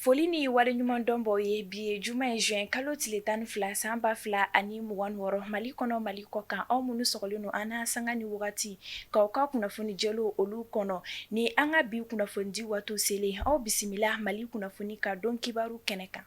foli ni waleɲuman dɔn b'aw ye bi ye juma ye juin kalo tile tan ni fila san ba fila ani mugan wɔɔrɔ mali kɔnɔ mali kɔ kan aw minnu sɔgɔlen don an na sanga ni wagati k'aw ka kunnafoni jɛlenw olu kɔnɔ ni an ka bi kunnafonidi waati selen aw bisimila mali kunnafoni ka don kibaru kɛnɛ kan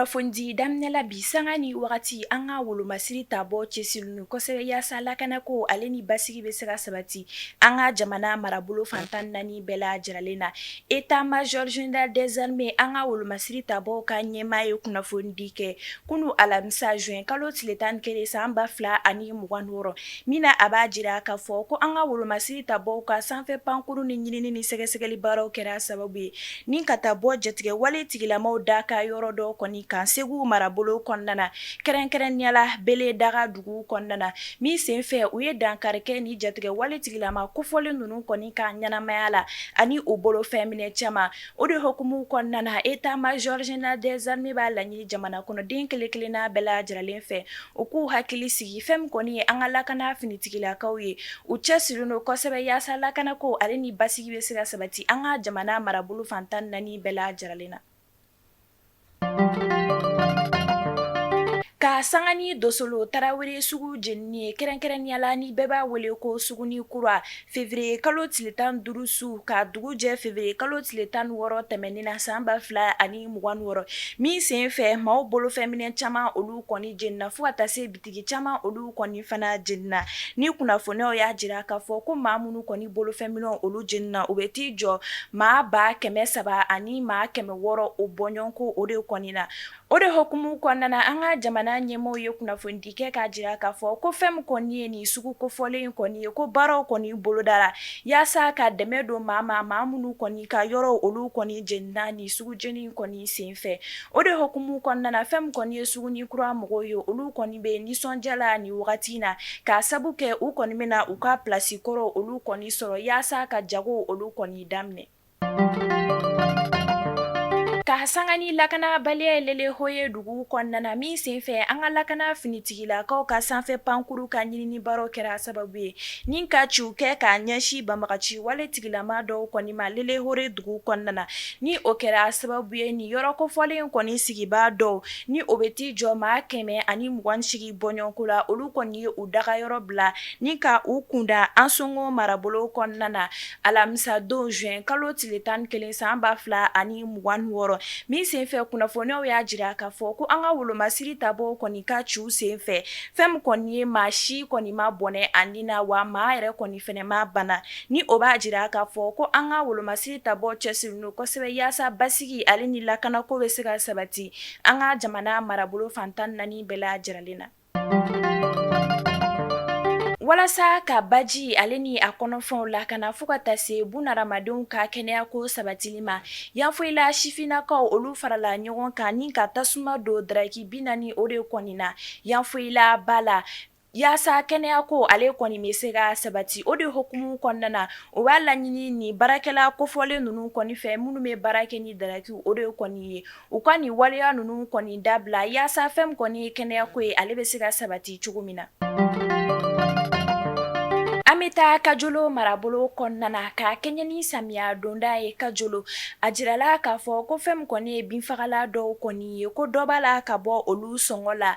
kunnafoni daminɛla bi sanga ni wagati an ka wolomasiri ta bɔ cɛsirilen kosɛbɛ yaasa lakana ko ale ni basigi bɛ se ka sabati an ka jamana marabolo fantan naani bɛɛ lajɛrɛlen na État-major général des armées an ka wolomasiri ta bɔ ka ɲɛmaa ye kunnafoni di kɛ kunun alamisa juin kalo tile tan ni kelen san ba fila ani mugan wɔɔrɔ min na a b'a jira k'a fɔ ko an ka wolomasiri ta bɔ ka sanfɛ pankurun ni ɲinini ni sɛgɛsɛgɛli baaraw kɛra sababu ye ni ka taa bɔ jatigɛ wale tigilamaw daga yɔrɔ dɔ kɔni kan segu marabolo kɔnɔna na kɛrɛnkɛrɛnnenya la bele daga dugu kɔnɔna na min senfɛ u ye dankari kɛ ni jatigɛ wale tigilama kofɔlen ninnu kɔni ka ɲɛnamaya la ani u bolo fɛnminɛ caman O de hukumu kɔnɔna na État-major général des armées b'a laɲini jamana kɔnɔ den kelen-kelenna bɛɛ lajɛrɛlen fɛ u k'u hakili sigi fɛn min kɔni ye an ka lakana finitigilakaw ye u cɛsirilen don kosɛbɛ yaasa lakana ko ale ni basigi bɛ se ka sabati an ka jamana marabolo fantan naani bɛɛ lajɛrɛlen na Ka sanga ni dosolo tarawele sugu jenini ye kɛrɛnkɛrɛnnenya la ni bɛɛ b'a wele ko suguni kura février kalo tile tan duuru su ka dugu jɛ février kalo tile tan wɔɔrɔ tɛmɛnen na san ba fila ani mugan wɔɔrɔ min sen fɛ maaw bolofɛnminɛ caman olu kɔni jenina fo ka taa se bi Tigi caman olu kɔni fana jenina ni kunnafoniw y'a jira k'a fɔ ko maa minnu kɔni bolofɛn minɛnw olu jenina u bɛ t'i jɔ maa ba kɛmɛ saba ani maa kɛmɛ wɔɔrɔ o bɔɲɔgɔn ko o de kɔni na o de hukumu kɔnɔna na an ka jamana ɲɛmɔgɔ ye kunnafonidi kɛ k'a jira k'a fɔ ko fɛn min kɔni ye nin sugu kofɔlen in kɔni ye ko baaraw kɔni bolodara yaasa ka dɛmɛ don maa ma maa minnu kɔni ka yɔrɔ olu kɔni jenina ni sugu jeni kɔni sen fɛ o de hukumu kɔnɔna fɛn min kɔni ye suguni kura mɔgɔw ye olu kɔni bɛ nisɔndiya la ni wagati in na k'a sabu kɛ u kɔni bɛna u ka plasi kɔrɔ olu kɔni sɔrɔ yaasa ka jago olu kɔni daminɛ ka sanga ni lakanabaliya ye lelehoye dugu kɔnɔna min senfɛ an ka lakana finitigilakaw ka sanfɛ pankurun ka ɲinini baaraw kɛra sababu ye ni ka ciw kɛ k'a ɲɛsin banbagaci wale tigilama dɔw kɔni ma lelehoye dugu kɔnɔna ni o kɛra sababu ye ni yɔrɔ kofɔlen kɔni sigibaa dɔw ni o bɛ t'i jɔ maa kɛmɛ ani mugan ni segin bɔɲɔgɔnko la olu kɔni ye u daga yɔrɔ bila ni ka u kunda ansɔngɔ marabolo kɔnɔna na alamisadon zuwɛn kalo tile tan ni kelen san ba fila ani mugan ni wɔɔrɔ min senfɛ kunnafoniw y'a jira k'a fɔ ko an ka wolomasiri ta bɔ kɔni ka ciw senfɛ fɛn min kɔni ye maa si kɔni ma bɔnɛ a nin na wa maa yɛrɛ kɔni fɛnɛ ma bana ni o b'a jira k'a fɔ ko an ka wolomasiri ta bɔ cɛsirilen don kosɛbɛ yaasa basigi ale ni lakanako bɛ se ka sabati an ka jamana marabolo fantan naani bɛɛ lajɛlen na walasa ka baji ale ni a kɔnɔfɛnw lakana fo ka taa se buna hadamadenw ka kɛnɛyako sabatili ma yanfoyila sifinnakaw olu farala ɲɔgɔn kan ni ka tasuma don daraki bi naani o de kɔni na yanfoyila ba la Yaasa kɛnɛya ko ale kɔni bɛ se ka sabati o de hukumu kɔnɔna na o b'a laɲini ni baarakɛla kofɔlen ninnu kɔni fɛ minnu bɛ baara kɛ ni darakiw o de kɔni ye u ka nin waleya ninnu kɔni dabila yaasa fɛn min kɔni ye kɛnɛya ko ye ale bɛ se ka sabati cogo min na an bɛ taa kajolo marabolo kɔnɔna na ka kɛɲɛn ni samiya donda ye kajolo a jirala k'a fɔ ko fɛn min kɔni ye binfagala dɔw kɔni ye ko dɔ b'a la ka bɔ olu sɔngɔ la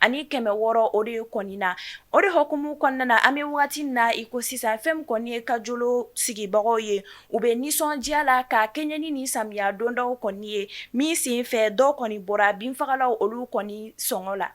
ani kɛmɛ wɔɔrɔ o de kɔni na o de hukumu kɔnɔna na an bɛ waati min na i ko sisan fɛn min kɔni ye kajolo sigibagaw ye u bɛ nisɔndiya la ka kɛɲɛ ni nin samiya donda kɔni ye min sen fɛ dɔ kɔni bɔra binfagalaw olu kɔni sɔngɔ la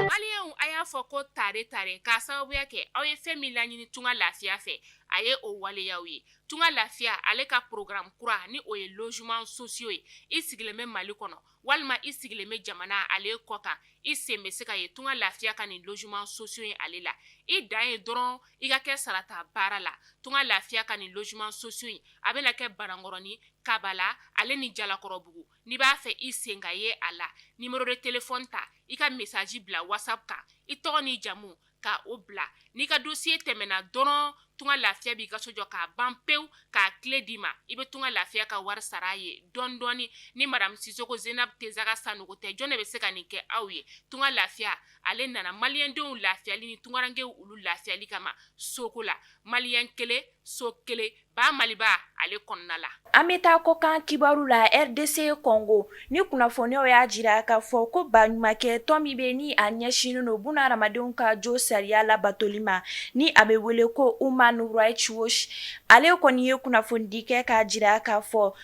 maliyɛnw a y'a fɔ ko tare tare k'a sababuya kɛ aw ye fɛn min laɲini tunga lafiya fɛ a ye o waleya aw ye tunga lafiya ale ka programme kura ni o ye logement sociaux ye i sigilen bɛ mali kɔnɔ walima i sigilen bɛ jamana ale kɔ kan i sen bɛ se ka ye tunga lafiya ka nin logement sociaux in ale la i dan ye dɔrɔn i ka kɛ sarata baarala tunga lafiya ka nin logement sociaux in a bɛna kɛ banankɔrɔni kabala ale ni jalakɔrɔbugu n'i b'a fɛ i sen ka ye a la numéro de téléphone ta i ka message bila WhatsApp kan i tɔgɔ ni i jamu ka o bila n'i ka dossier tɛmɛna dɔrɔn tunga lafiya b'i ka so jɔ k'a ban pewu k'a clé d'i ma i bɛ tunga lafiya ka wari sara a ye dɔɔni dɔɔni ni madamu sisoko zenabu tesaga sanogo tɛ jɔn de bɛ se ka nin kɛ aw ye tunga lafiya ale nana maliyɛndenw lafiyali ni tungarankew olu lafiyali kama soko la maliyɛn kelen so kelen ba maliba ale kɔnɔna la an bɛ taa kɔkan kibaru la RDC Congo ni kunnafoniw y'a jira k'a fɔ ko baɲumankɛ tɔn min bɛ ni a ɲɛsinnen don buna hadamadenw ka josariya labatoli ma ni a bɛ wele ko Human Rights Watch ale kɔni ye kunnafonidi kɛ k'a jira k'a fɔ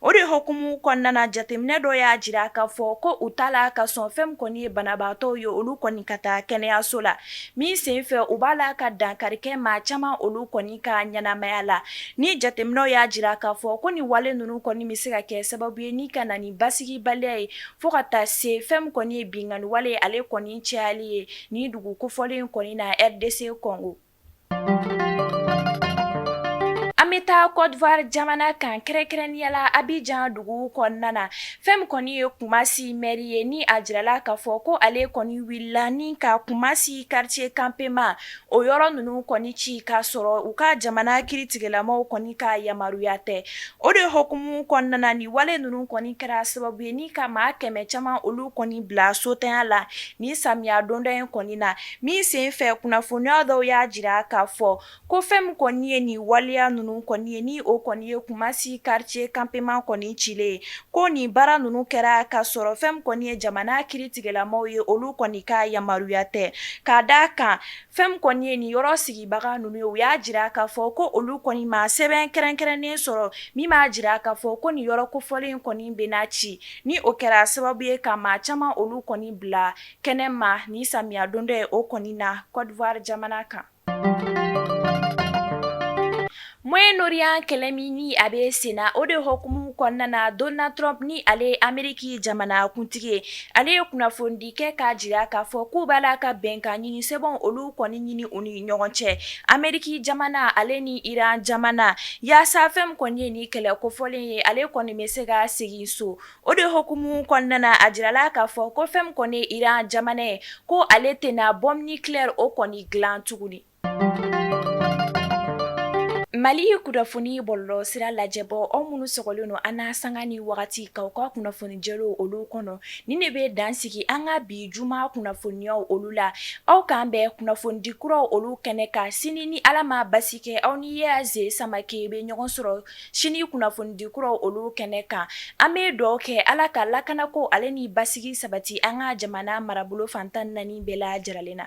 O de hukumu kɔnɔna na jateminɛ dɔ y'a jira k'a fɔ ko u t'a la ka sɔn fɛn min kɔni ye banabaatɔw ye olu kɔni ka taa kɛnɛyaso la min sen fɛ u b'a la ka dankari kɛ maa caman olu kɔni ka ɲɛnamaya la ni jateminɛw y'a jira k'a fɔ ko ni wale ninnu kɔni bɛ se ka kɛ sababu ye ni ka na ni basigibaliya ye fo ka taa se fɛn min kɔni ye binkanni wale ale kɔni cayali ye ni dugu kofɔlen kɔni na RDC Kɔngo bɛ taa kɔdiwari jamana kan kɛrɛnkɛrɛnnenya la Abijan dugu kɔnɔna na, fɛn min kɔni ye Kumasi mɛri ye ni a jirala k'a fɔ ko ale kɔni wulila ni ka Kumasi quartier campement o yɔrɔ ninnu kɔni ci k'a sɔrɔ u ka jamana kiritigɛlamaaw kɔni ka yamaruya tɛ, o de hukumu kɔnɔna na nin wale ninnu kɔni kɛra sababu ye ni ka maa kɛmɛ caman olu kɔni bila sotanya la nin samiya donda in kɔni na Min sen fɛ kunnafoniya dɔw y'a jira k'a fɔ ko fɛn min kɔni ye nin waleya ninnu kɔni ye ni o kɔni ye Kumasi quartier campement kɔni cilen ye ko nin baara ninnu kɛra k'a sɔrɔ fɛn min kɔni ye jamana kiritigɛlamaaw ye olu kɔni ka yamaruya tɛ k'a d'a kan fɛn min kɔni ye nin yɔrɔ sigibaga ninnu ye u y'a jira k'a fɔ ko olu kɔni ma sɛbɛn kɛrɛnkɛrɛnnen sɔrɔ min b'a jira k'a fɔ ko nin yɔrɔ kofɔlen kɔni bɛna ci ni o kɛra sababu ye ka maa caman olu kɔni bila Kɛnɛ ma nin samiya donda in o kɔni na Kɔdiwari jamana kan Moyen-Orient kɛlɛ min ni a bɛ sen na o de hukumu kɔnɔna na Donald Trump ni ale ye Ameriki jamanakuntigi ye ale ye kunnafonidi kɛ k'a jira k'a fɔ k'u b'a la ka bɛnkan ɲini sɛbɛn olu kɔni ɲini u ni ɲɔgɔn cɛ Ameriki jamana ale ni Iran jamana yaasa fɛn min kɔni ye ni kɛlɛ kofɔlen ye ale kɔni bɛ se ka segin so O de hukumu kɔnɔna na a jirala k'a fɔ ko fɛn min kɔni ye Iran jamana ye ko ale tɛna bombe nucléaire o kɔni dilan tuguni Mali kunnafoni bɔlɔlɔ sira lajɛbɔ aw minnu sɔgɔlen don an na sanga ni wagati k'aw ka kunnafoni jɛlenw olu kɔnɔ ni ne bɛ dan sigi an ka bi juma kunnafoniyaw olu la aw k'an bɛn kunnafonidi kuraw olu kɛnɛ kan sini ni ala ma basi kɛ aw ni Yaze Samake bɛ ɲɔgɔn sɔrɔ sini kunnafonidi kuraw olu kɛnɛ kan an bɛ dugawu kɛ ala ka lakanako ale ni basigi sabati an ka jamana marabolo fantan naani bɛɛ lajɛlen na